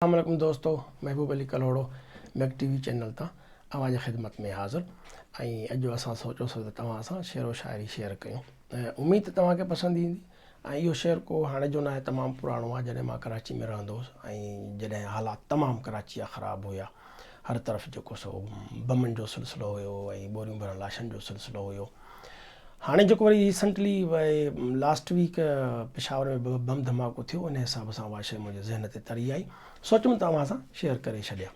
اسلام عليڪم دوستو Mehboob Ali Kalhoro Mag T V channel تان اوهان جي خدمت ۾ حاضر ۽ اڄ اسان سوچيو سو ته توهان سان شعر و شاعري شيئر ڪيون اميد ته توهان کي پسند ايندي ۽ اهو شعر ڪو هاڻي جو ناهي تمام پراڻو آهي جڏهن مان ڪراچي ۾ رهندو هوس ۽ جڏهن حالات تمام ڪراچي جا خراب هيا هر طرف جيڪو سو بمن جو سلسلو هيو ۽ ٻوريون ڀريل لاشن جو سلسلو هيو هاڻي جيڪو وري ريسنٽلي لاسٽ ويڪ پشاور ۾ بم ڌماڪو ٿيو ان حساب سان اها شيء منهنجي ذهن تي تري آئي سوچيم ته اوهان سان شيئر ڪري ڇڏيا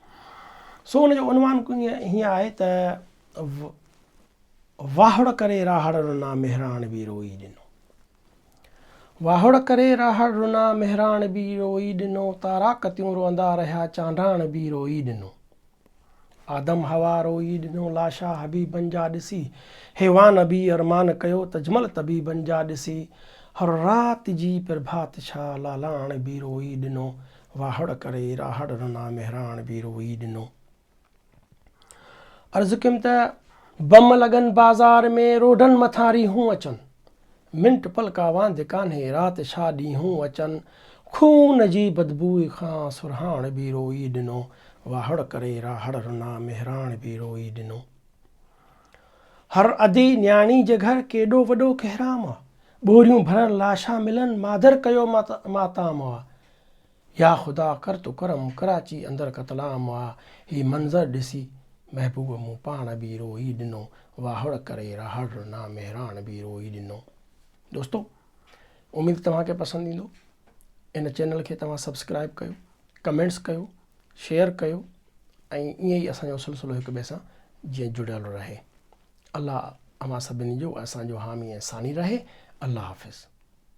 سو ان جو عنوان هيئن آهي ته واهڙ ڪري راهڙ رنا مهراڻ به روئي ڏنو واهڙ ڪري راهڙ رنا مهراڻ به روئي ڏنو تاراڪتيون روئندا رهيا چانڊاڻ به روئي ڏنو آدم حوا روئي ڏنو لاشا حبيبن جا ڏسي حيوان به ارمان ڪيو تجمل طبيبن جا ڏسي هر رات جي پرڀات ڇا لالاڻ به روئي ڏنو واهڙ ڪري راهڙ رنا مهراڻ به روئي ڏنو. عرض ڪيم ته بم لڳن بازار ۾ روڊن مٿان ريهون اچن منٽ پلڪا واند ڪانهي رات ڇا ڏينهون اچن خون جي بدبوء کان سرهاڻ به روئي ڏنو واهڙ ڪري راهڙ رنا مهراڻ به روئي ڏنو هر ادي نياڻي جي گهر ڪيڏو وڏو ڪهرام آ ٻوريون ڀريل لاشا ملن مادر ڪيو ماتام آ يا خدا ڪر تو ڪرم ڪراچي اندر قتل عام آ هي منظر ڏسي محبوب مون پاڻ به روئي ڏنو واهڙ ڪري راهڙ رنا مهراڻ به روئي ڏنو دوستو اميد توهان کي پسند ايندو ان چينل کي توهان سبسڪرائب ڪيو ڪمينٽس ڪيو شيئر ڪيو ۽ ائين ئي اسان جو سلسلو هڪ ٻئي سان جيئن جڙيل رهي الله اوهان سڀني جو اسان جو حامي ۽ ثاني رهي الله حافظ